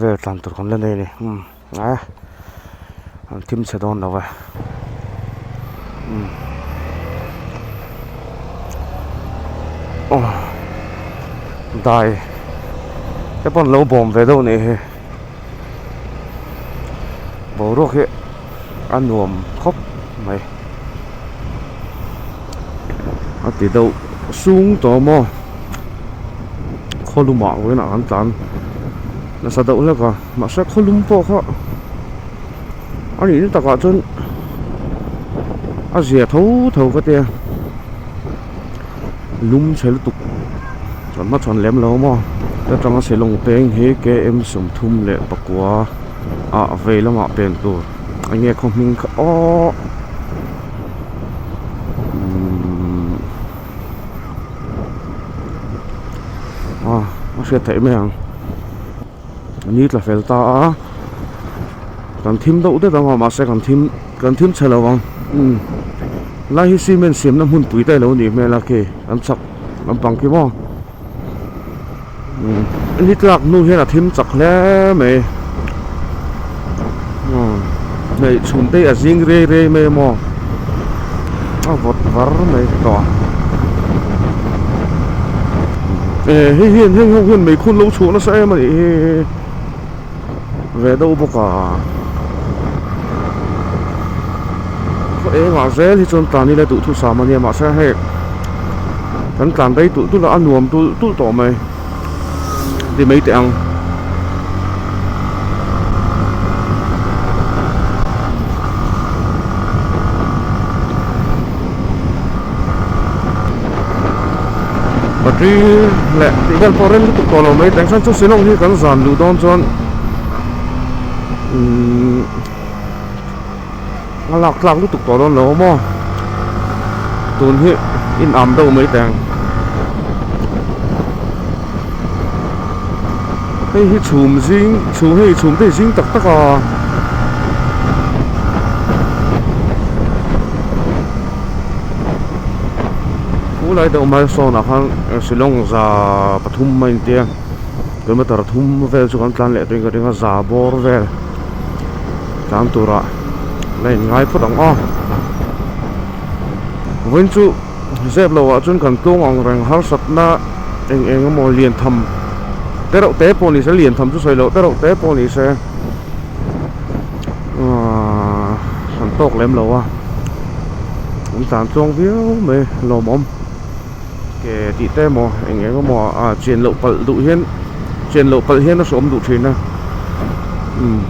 vel tlan tur kan la nei a ni umm ae an thim chhe dawn lo va umm aw dai te pawh an lo bawm ve deuh a nih hi boruak hi. a nuam khawp mai a ti deuh sung tawh maw khawlum ah ruih ah kan tlan nasa deuh hlek a mahse khawlum pawh kha a nih na takah chuan a zia tho tho ka tia. lum chhe lutuk chhan hma chhan lem lo maw heta tanga silawm peng hi K M sawmthum leh pakua a vei lamah pên tur eng nge khaw hming kha aww umm a hriat theih mai ang. an ni tla fel ta a kan thim deuh det ang a mahse kan thim kan thim chhe lo ang umm lai hi cement siamna hmun pui te lo a nih hmel a khi an chhak lampang khi maw umm ni tlak hnu hian a thim chak hle mai. hneih chhun te hi a zing rei rei mai a maw a vawt var mai tawh a eh hei hian hei ho hian meikhûn lo chhuah nasa em a nih hi ve deuh bawk a khaw engah zêl hi chuan tlân hi la duh thusam a nia mahse hei kan tlân daih tûl tûl a a nuam tûl tûl tawh mai. ri mai teh ang. Battery leh tih vel pawh rem lutuk tawh lo mai teh ang chuan chu silawm hi kan zan duh dawn chuan umm-- a lak tlak lutuk tawh dawn lo maw tun hi inam deuh mai teh ang hei hi chhum zing chhum hei hi chhum te hi zing tak tak a khulai deuh mai sawn ah khan silawng za pathum a intia kilometer thum vel chu kan tlan leh tawh in ka ring a za bawr vel. Tlan turah la in ngai phawt ang aw. Vawiin chu zep lo ah chuan kan tlung ang reng harsat na eng eng emaw lian tham te reuh te pawh ni se lian tham chu sawi loh te reuh te pawh ni se aaa han tawk lem lo a kan tlan chuang viau mai lawmawm. ke tih te emaw eng eng emaw a chen loh palh duh hian chen loh palh hian a sawm duh thin a umm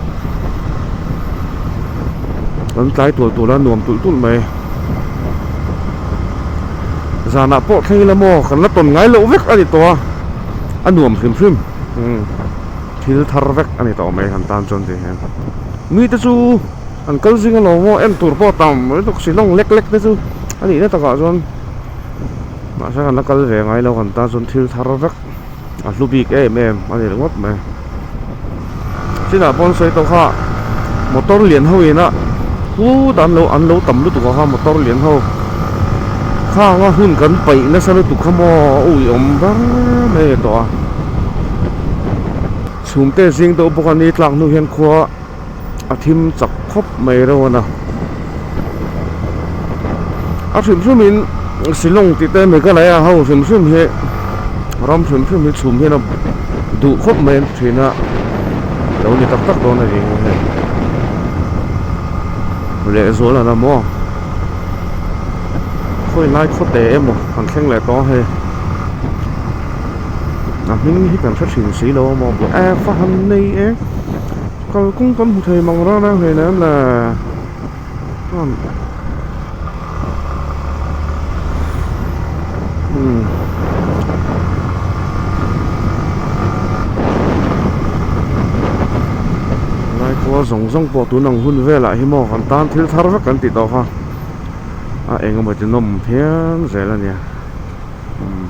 an tlai tual tual a nuam tulh tulh mai zanah pawh thleng ila maw kan la tawn ngai loh vek a ni tawh a a nuam hrim hrim umm thil thar vek a ni ta awm e han tan chuan tih hian mi te chu an kal zing alawm maw en tur pawh a tam riau tawh si lawng lek lek te chu a nihna takah chuan. mahse kan la kal ve ngai lo kan tan chuan thil thar vek a hlu bik em em a ni ringawt mai chinah pawn sawi tawh kha motor lian ho ina pu dan lo an lo tam lutuk a kha motor lian ho khanga hun kan paih nasa lutuk kha maw ui awm ber mai a ni tawh a chhum te a zing deuh bawk a ni tlak hnung ah hian khua-- a thim chak khawp mai reuh a na a hrim hrim in silawng tih te meghalaya ho hrim hrim hi ram hrim hrim hi chhum hian a duh khawp mai a ni thin a lo ni tak tak dawn a ni ang hei leh zual a la maw a khawi lai khaw te emaw kan thleng leh tawh ang hei a hming hi kan hre thin si lo a maw a buai a fahan nei e. kalkawng kan hmu thei mang rang rang hle em le chuan umm helai khua zawng zawng pawh tun ang hun velah hi maw han tan thil thar vek kan ti tawh kha a eng emaw ti nawm phian zel a nia umm.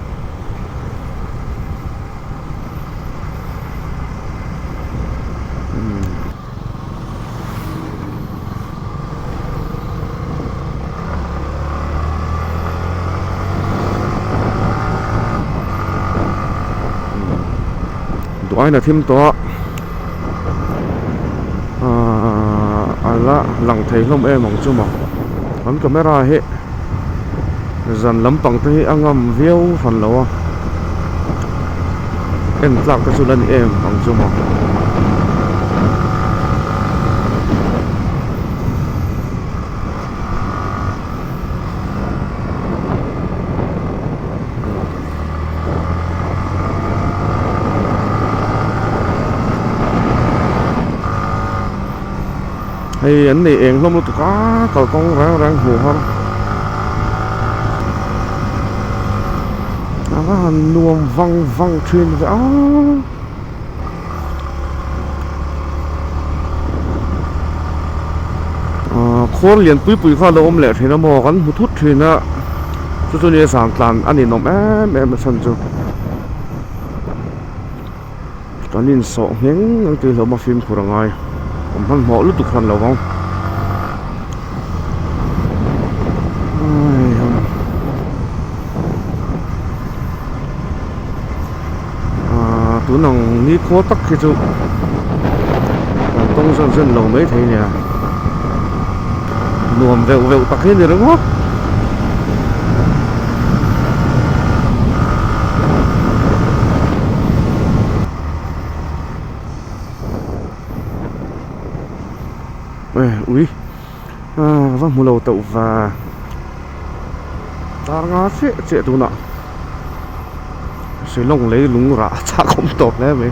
duaina thim tawh a a la lang thei hlawm em ang chu maw han camera hi-- zan lampang te hi a ngam viau hran lo a en tlak te chu la ni em ang chu maw hei an nei eng hlawm lutuk a kalkawng rang rang hmuh har ava han nuam vang vang thin ka a ahh khawl lian pui pui kha lo awm leh thin a maw kan hmu thut thin a chu chu nia santlan a ninawm em em a chhan chu. Kan insawh ngheng ang tih hlawhma fimkhur a ngai awm hman hmawh lutuk hman lo ang aii hum aaa tun ang nikhaw tak khi chu kan tawng zan zan lo mai thei nia. nuam veuh veuh tak hi a ni ring maw eh ui ah va hmu lo tauh va tar nga chiah chiah tunah Shillong lei lung rah a chak awm tawp hle mai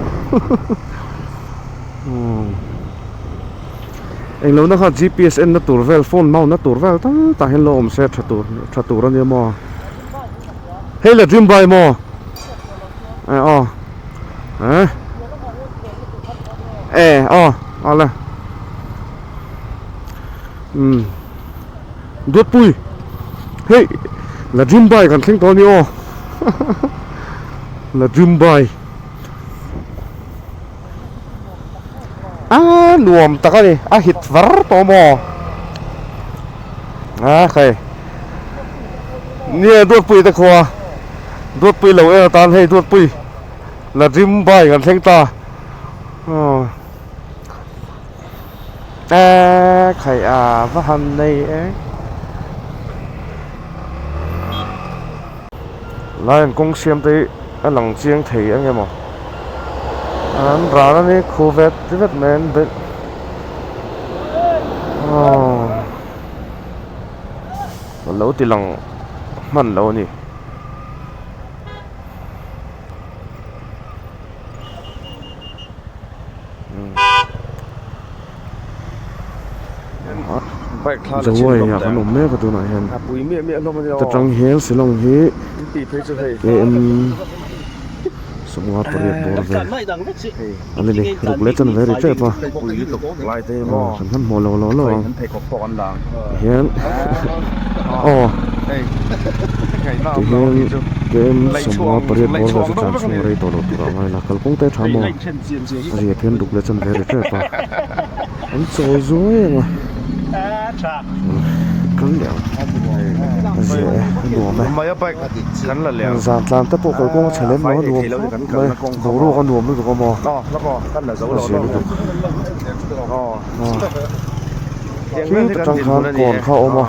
englo na kha gps enna tur vel phone hma unna tur vel tam tah hian lo awm se tha tur tha tur a nia maw hei la dream bike maw e aw eh e aw a la um dawtpui hei la dream bike kan thleng tawh a ni aw la dream bike Aa nuam tak a ni a hit var tawh maw a khai nia duatpui te khua duatpui lo en atan hei duatpui la rim bai kan thleng ta Eeee khaih a va han nei e Lai an kawng siam te hi a lang chiang thei ang emaw an ran a ni khu vet ti vet mai an be aww a lo ti lang hman lo a ni. zawai ah kan awm mek a tunah hian ta tang hian silawm hi kem sawmnga pariat bawr vel a ni ni ruk leh chan ve ri tep a aw kan han hmuh lo lo lo ang. Tihian aw tihian game sawmnga pariat bawr zawh chu chance chhunga rei tawh loh tur a ngai la kalkawng te a tha maw a riat hian duk leh a chan ve rep rep a an chawi zuai ang a kal leh ang a ze e a nuam e heng zan tlan te pawh kalkawnga chha lem lo a nuam fap mai boruak a nuam lutuk a maw a ze lutuk. Tlui ta tang khan kawn kha a awm a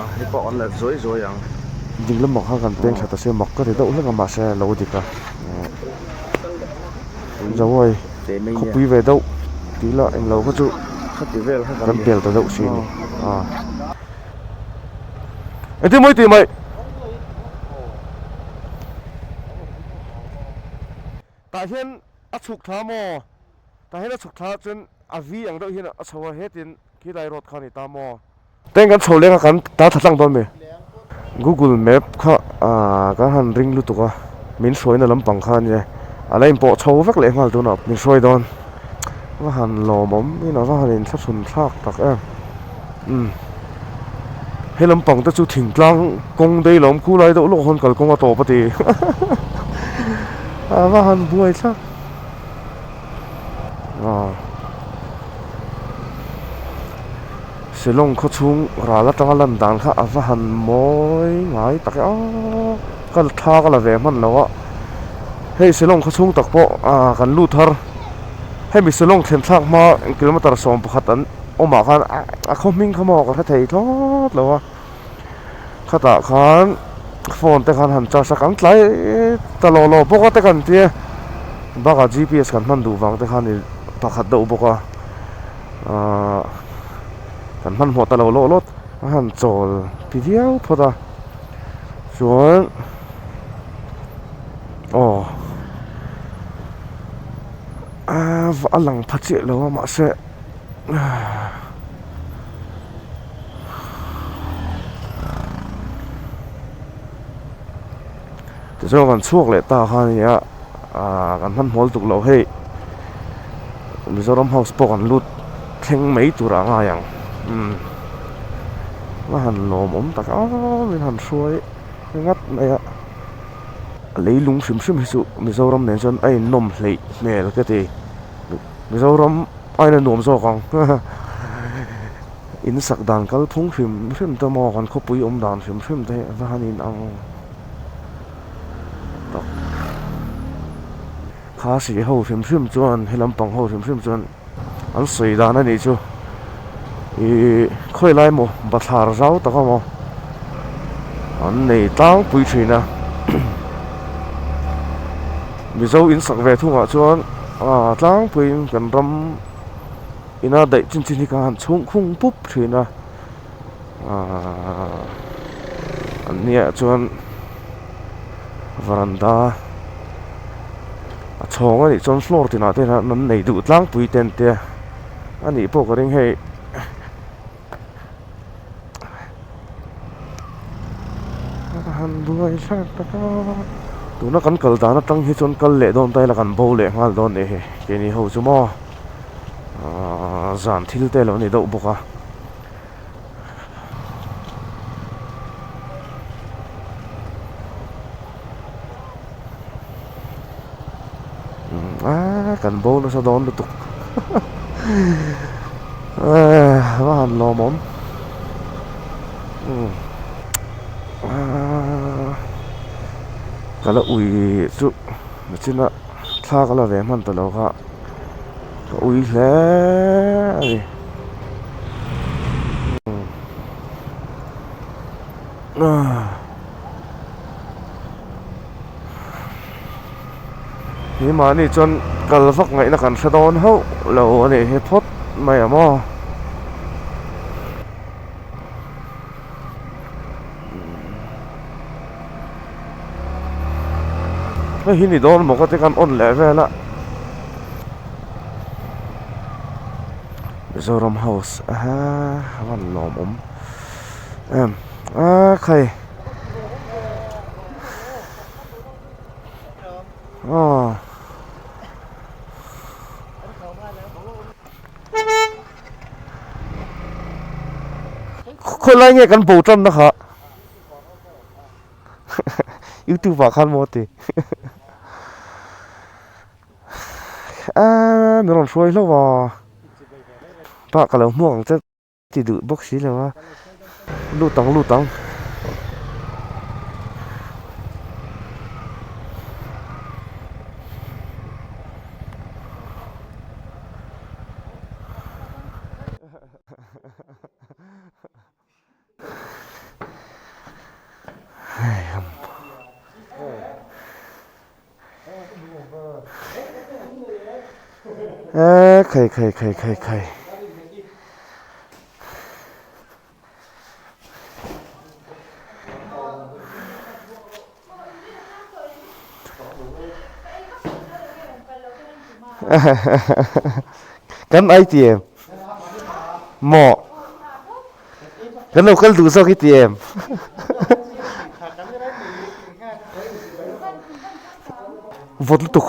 ding lamah khan kan peng thla ta se mak ka ri deuh hlek a mahse a lo dik a zawai khawpui ve deuh tih ila eng lo kha chu kan pel ta deuh si a ni aw engtin mawi tih mai tah hian a chhuk tha maw. Tah hian a chhuk thla chuan a vi ang deuh hian a chho a, hetin khi lai road kha a ni ta maw? Tah hian kan chho leng a kan ta tha tlang dawn mai. Google map kha kan han ring lutuk a, min hruaina lampang kha a nia, a la inpawh chho vek leh nghal tunah min hruai dawn. Va han lawm awm in a va han intha chhun thlak tak em umm. He lampang te chu thingtlang kawng daih loh awm khu lai deuh lawk hawn kalkawnga tawp a ti. A va han buai thlak. aw silawng khaw chhung ral atanga lan dan kha a va han mawi ngai tak e aww ka la tha ka la ve hman loh a hei silawng khaw chhung tak pawh aaa kan lut har hemi silawng thlenthlak hma kilometre sawm pakhat an awmah khan a khaw hming kha maw ka hre thei thlawt lo a. khatah khan phone te khan han charge a kang tlai ta lo lo bawk a te kan ti a bakah g p s kan hman duh vang te khan i pakhat deuh bawk a aaa kan hman hmawh ta lo lo lawt a han chawl ti viau phawt a chuan aw aaa a lang pha chiah lo a mahse. tichuan kan chhuak leh ta kha nia aaa kan hmanhmawh lutuk loh hei mizoram house pawh kan lut thleng mai tur a ngai ang umm a han lawm awm tak a ni a han hruai ngat mai a lei lung hrim hrim hi chu mizoram nen chuan a inawm hleih hmel ka ti. Mizoram a in la nuam zawk ang haha in sak dan kal phung hrim hrim te maw kan khawpui awm dan hrim hrim te a han in ang tawh khasi ho hrim hrim chuan he lampang ho hrim hrim chuan an sawi dan a nih chu ihh khawi lai maw bathlar zau tak a maw an nei tlang pui thin a Mizo in sak ve thung ah chuan. Aa tlangpuiin kan ram ina daih chin chin hi kha han chhung khung pup thin a aaa an hniaih ah chuan varanda a chhawng anih chuan floor tinah te hian an nei duh tlangpui ten tia anih pawh ka ring hei. a han buai zat tak a tuna kan kal dan atang hi chuan kal leh dawn ta ila kan bo leh nghal dawn leh hi ke ni ho chu maw aaa zan thil te lo ni deuh bawk a aaa kan bonus a dawn lutuk aaa va han lawm awm umm aaa ka la ui chu a chin a thla ka la ve hman ta lo kha ka ui hle a ni umm aaa. Hi mahni chuan kal vak ngaihna kan hre dawn hauh lo a nih hi phawt mai a maw hei hi ni dawn maw ka ti a kan on leh vel a Mizoram house a ha van nuam awm em. Aa khai aw khawlai nge kan bo tan na kha youtube ah khan maw ti a min rawn hruai hlauh a tah ka lo hmuak ang che Ti duh bawk si lo a, lut ang lut ang. Eee khai khai khai khai khai kan ai ti em maw. Kan lo kal duh zawk hi ti em. Vawt lutuk.